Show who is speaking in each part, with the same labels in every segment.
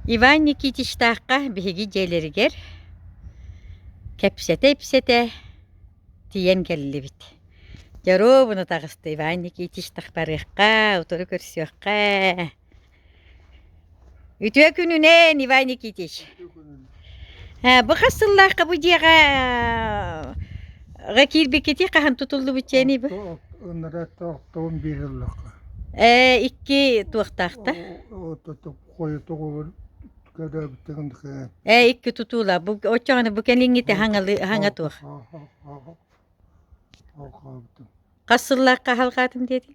Speaker 1: Иван Никитичтаахха биһиги дьиэлэригэр кэпсэтэ-ипсэтэ тиийэн кэллибит. Дьоруобуна таҕыста Иван Никитич тахтарыахха, утары көрсүөххэ. Үтүө күнүнэн, Иван Никитич! Ээ, бу хас сыллаахха бу дьиэҕэ ҕэ киирбиккитий хаһан тутуллубут дьиэний бу? Оттоо ынара
Speaker 2: тоохтоон биэрэллэххэ. Ээ, икки
Speaker 1: туохтаахта? Ототук
Speaker 2: хойутугубун көрөөбүттэрин хээ. Ээ, икки тутуула.
Speaker 1: Бу оччоҕуна бу кэлиҥҥитэ хаҥалы хаҥа туох? Хаа-хаа-хаа-хаа-хаа-хаа-хаа-хаа-бутум. Хас сыллаахха аһалҕаатым диэтиҥ?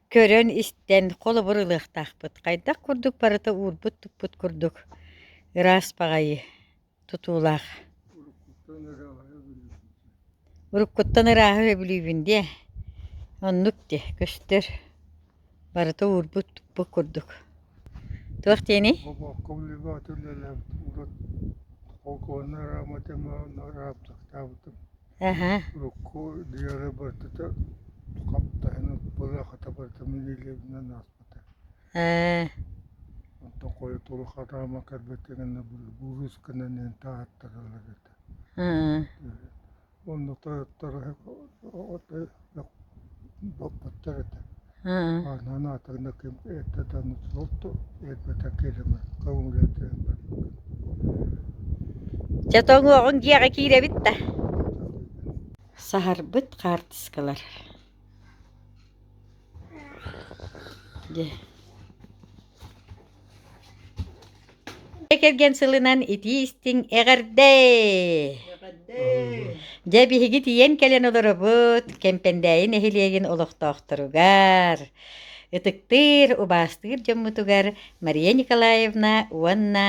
Speaker 1: көрөн-истэн холобур ылыахтаахпыт хайдах курдук барыта уурбут-туппут курдук ыраас баҕайы тутуулаах уруккуттан ырааһы өбүлүүбүн диэ оннук диэ көстөр барыта уурбут-туппут курдук туох диэний
Speaker 2: холкуоннара мотомотоктаабытым урукку диэри барытата хаптаһын ылбыта хата барыта миниилинэн ааспыта онтон хойутууру хатаама кэлбэттэн гэнэ буруусканан иһин тааттаралар этэ онно тойоттор баппаттар этэ Онон атыныкым эттэтэн өлбөтө кирими көҥүлэтэн
Speaker 1: Дьэ тоҥуоҕуҥ дьиэҕэ киирэбит да Саһарбыт хаартыскалар Дьэ кэргэн сылынан итии-истиҥ эҕэрдэй! Дьэ, биһиги тиийэн кэлэн олоробут Кэмпэндээйи нэһилиэгин олохтоохторугар, ытыктыыр, убаастыыр дьоммутугар Мария Николаевна уонна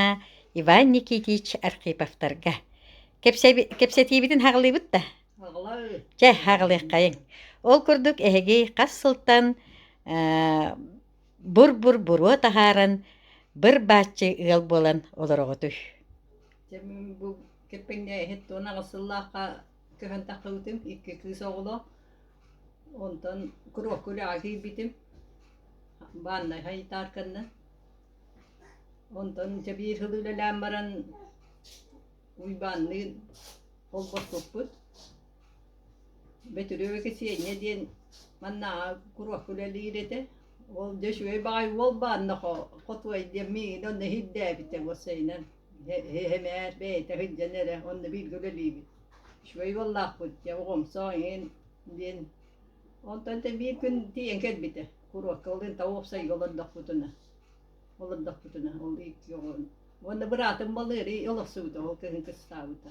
Speaker 1: Иван Никитич Архиповтарга. Кэпсэби, кэпсэтиибитин хаҕылыыбыт да? Чэ, хаҕылыаххайыҥ. Ол курдук, эһиги хас сылтан Бур-бур буруо таһааран, быр-бааччы ыал буолан олороҕутуй
Speaker 3: Кирпиҥҥэ иһит туон аҕыс сыллаахха көһөн тахтыбытым, икки кыыс оҕолоох. Онтон куруһ күрэҕэ киирбитим бааннай хайтаарканнан. Онтон дьэ биир сыл үлэлээн баран Уйбаанныын холбоспуппут. Бөтүрүөбү Кисиэнньэ диэн маннааҕы куруһ үлэлиир этэ. Ол дьэ үчүгэй баҕайы уол баанна хотуой диэн миигин онно иһирдээбитэ уопсайынан эмээр бэйэтэ сылдьан эрэ онно бииргэ үлэлиибит. Үчүгэй уоллаахпыт дьэ оҕомсоох эҥин диэн онтон ити биир күн тиийэн кэлбитэ куруһка былыр таа уопсайга олордохпутуна олордохпутуна ол икки оҕо уонна быраатым балыырый олохсубута ол кыһын кыстаабыта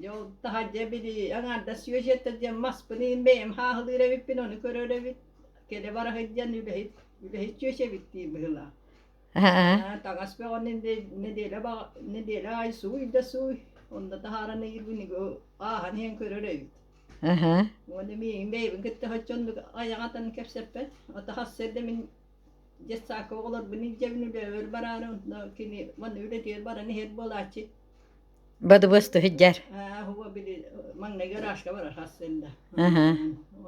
Speaker 3: Дьэ ол таһа дьэ били аҥаардас сүөдьэтэ диэн маспыныын бэйэм хааһылыыр эбиппин ону көрөр эбит кэлэ бара сылдьан үлэһит үлэһит сүөсэбит дии быһыылаах аа таҥас бөҕөнү нэдиэлэ баҕа нэдиэлэ аайы сууй да сууй онно таһааран ыйыырбын ааһан иһэн көрөр эбит уонна миигин бэйэбин кытта соччо оннук айаҕатан кэпсэппэт атахасса эрдэ мин детсаакка оҕолорбун илдьэбин үлэбэр бараары онно кини манна үлэтигэр баран иһэр буолааччы
Speaker 1: бадыбыасты сыдьар уһуга били
Speaker 3: маҥнайгы ыраашка бара сарсыарда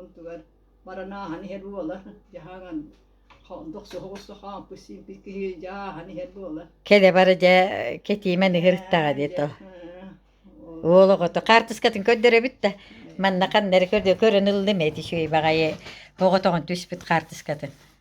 Speaker 3: онтугар маранааһын иһэр буолар дьаһаҥан дохсу оҕуста хаампыт сиимпит киһи дьааһан иһэр буолар кэлэ бара дьэ
Speaker 1: кэтиимэ ныһырыттаҕа дии то уол оҕото хаартыскатын көрдөрөбүт да манна ханна эрэ көрдө көрөн ыллым эти үчүгэй баҕайы оҕотоҕун түспүт хаартыскатын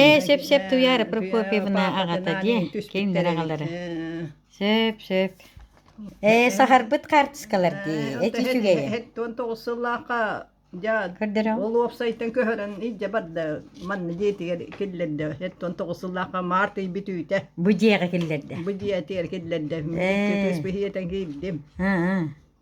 Speaker 3: ээ
Speaker 1: сөп-сөп туяра Прокопьевна аҕата дии кинилэр аҕалара сөп-сөп ээ сахарбыт хаартыскалар дии эти үчүгэйэ он тоҕус
Speaker 3: сыллаахха ол уопсайтан
Speaker 1: көһөрөн
Speaker 3: илдьэ барда манна дьиэтигэр киллэрдэ он тоҕус сыллаахха март ыйбыт үүтэ бу дьиэҕэ киллэрдэ
Speaker 1: бу дьиэ этигэр
Speaker 3: киллэрдэ кирдим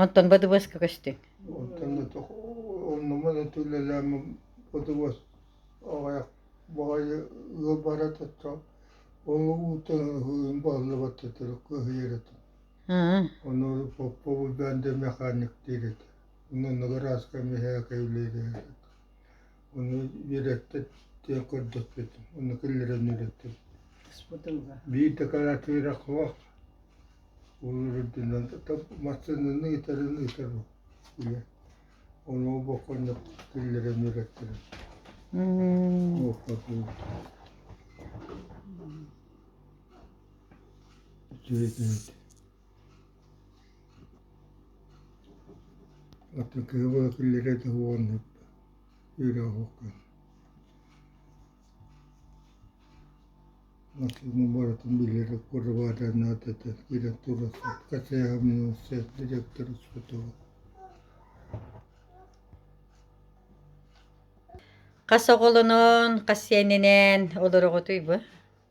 Speaker 2: Онтон
Speaker 1: БДВСка көстүҥ? Онтон да туох
Speaker 2: оннуман этилэлээм БДВС аҕайах баҕайы ыал бара таттаҕа ол уута ыһыын бааллыбат этэ кыһыйар этэ ону Попова бэндэ механик диир этэ онно награска миһээкэ үлэлиир этэ Ону үөрэттэр диэн көрдөспүтүм. Ону киллэрэн үөрэттим. Биир декоратыыра куһах Улурдунан массыынаны ыытарын ыытар үйэ. Ону бокконнук киллэрэн үөрэттерим. Үчүгэйдээт. Оттон киһи быһа киллэрэ да уоннук үөрэ оһоххун максимум барытын билэр куорабааданаатата киирэн турарсат хачайаамнылсыат директора сотоҕо
Speaker 1: хас оҕолонон хас сиэнинээн олороҕутуй бу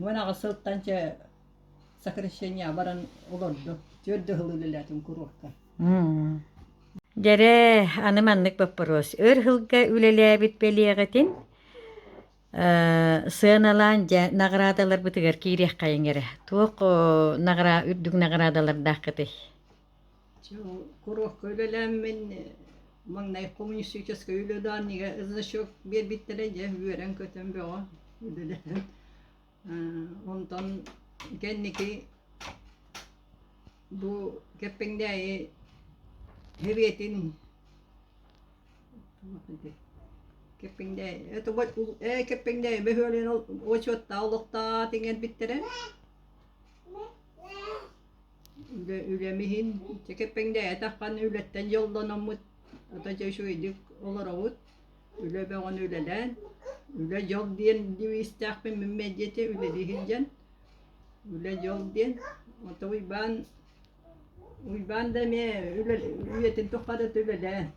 Speaker 3: Уон аҕыс сылтан чэ сокращение баран олордум. Түөрт да сыл үлэлээтим курортка. Дьэрэ,
Speaker 1: аны маннык боппуруос. Өр сылга үлэлээбит бэлиэҕитин сыаналаан дьэ наҕараадаларбытыгар киириэххэйиҥ эрэ. Туох нагара үрдүк наҕараадалардааххытый?
Speaker 3: Куруохха үлэлээммин маҥнай коммунистическай үлэ-даанньыга значок биэрбиттэрэ дьэ үөрэн-көтөн бөҕө үлэлэһэн онтон кэнники бу Кэппэҥдээйи сэбиэтин Кэппэҥдээйи ээ Кэппэҥдээйи бөһүөлэгин отчуоттаах олохтоох иҥэрбиттэрэ Үлэм иһин кэппэҥнээтэххинэ үлэттэн дьоллономмут ата дьэ үчүгэйдик олоробут үлэ бөҕөнү үлэлээн үлэ дьол диэн девизтээхпин мин мэлдьи үлэлии сылдьан үлэ дьол диэн ото Уйбаан Уйбаан да эмиэ үйэтин тухха да үлэлээн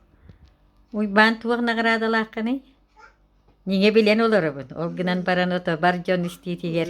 Speaker 1: Уйбаан туох наҕараадалааххыный ньиҥэ билэн олоробун ол гынан баран ото бар дьон истиитигэр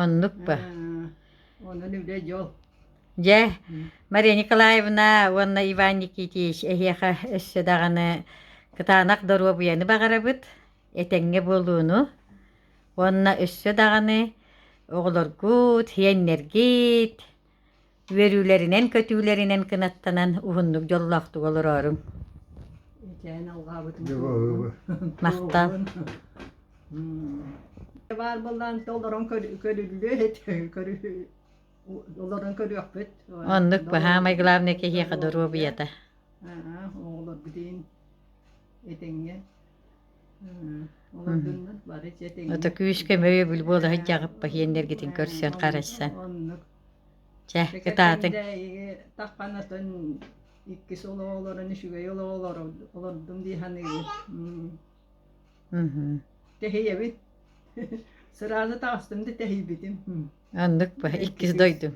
Speaker 3: Оннук
Speaker 1: ба. Онон
Speaker 3: үлэ дьол. Дьэ,
Speaker 1: Мария Николаевна уонна Иван Никитич эһиэхэ өссө даҕаны кытаанах доруобуйаны баҕарабыт, этэҥҥэ буолууну. Уонна өссө даҕаны оҕолоргут, иэннэргит үөрүүлэринэн-көтүүлэринэн кынаттанан уһуннук дьоллоохтук олороорум
Speaker 2: махтал
Speaker 3: баар быллаан олорон олорон көрүөхпүт оннук баһаамай
Speaker 1: главное киһиэхэ доруобуйата
Speaker 3: оҕолор билиин этиҥҥэ ото күүскэ мөйөбүл
Speaker 1: буола сыдьаҕып пахиеннергитин көрсөн харайсан Чэ, кытаатыҥ. тахханатын
Speaker 3: иккис олоҕолорун үчүгэй олоҕолор олордум дии саныыбын. Тэһийэбит. Сразу таҕыстым да тэһийбитим. Оннук бу
Speaker 1: иккис дойдум.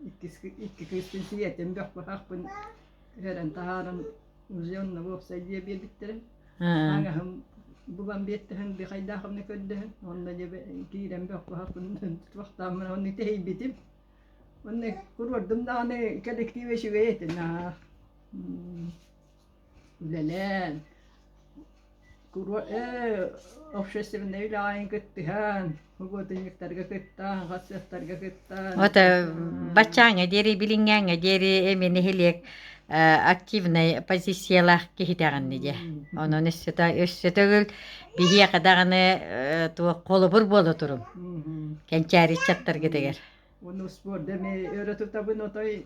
Speaker 3: Иккис кыыстын сиэтим бөх быһахпын үөрэн таһааран музеонно уопсай дьиэ биэрбиттэрэ аҥаһым булан биэртэһэн бихайдаахымны көрдөһөн онно дьэ киирэн бөхпөхпүнүн туохтааммын онно тэһийбитим онно куруордум даҕаны коллектив үчүгэй этэ наһаа үлэлээн Куруо ээ общественнай үлэҕин кыттыһан, угодунниктарга кыттаан, хатсыахтарга кыттаан, Вот э,
Speaker 1: баччааҥҥа диэри билиҥҥээҥҥэ диэри эмиэ нэһилиэк э, активнай позициялаах киһитэҕин дии. Онон өссөтө өссө төгүл биһиэхэ даҕаны э, туох холобур буола турун мгм. кэнчээри ыччаттаргытыгар. Уну спорт
Speaker 3: эми өрө тутабын отой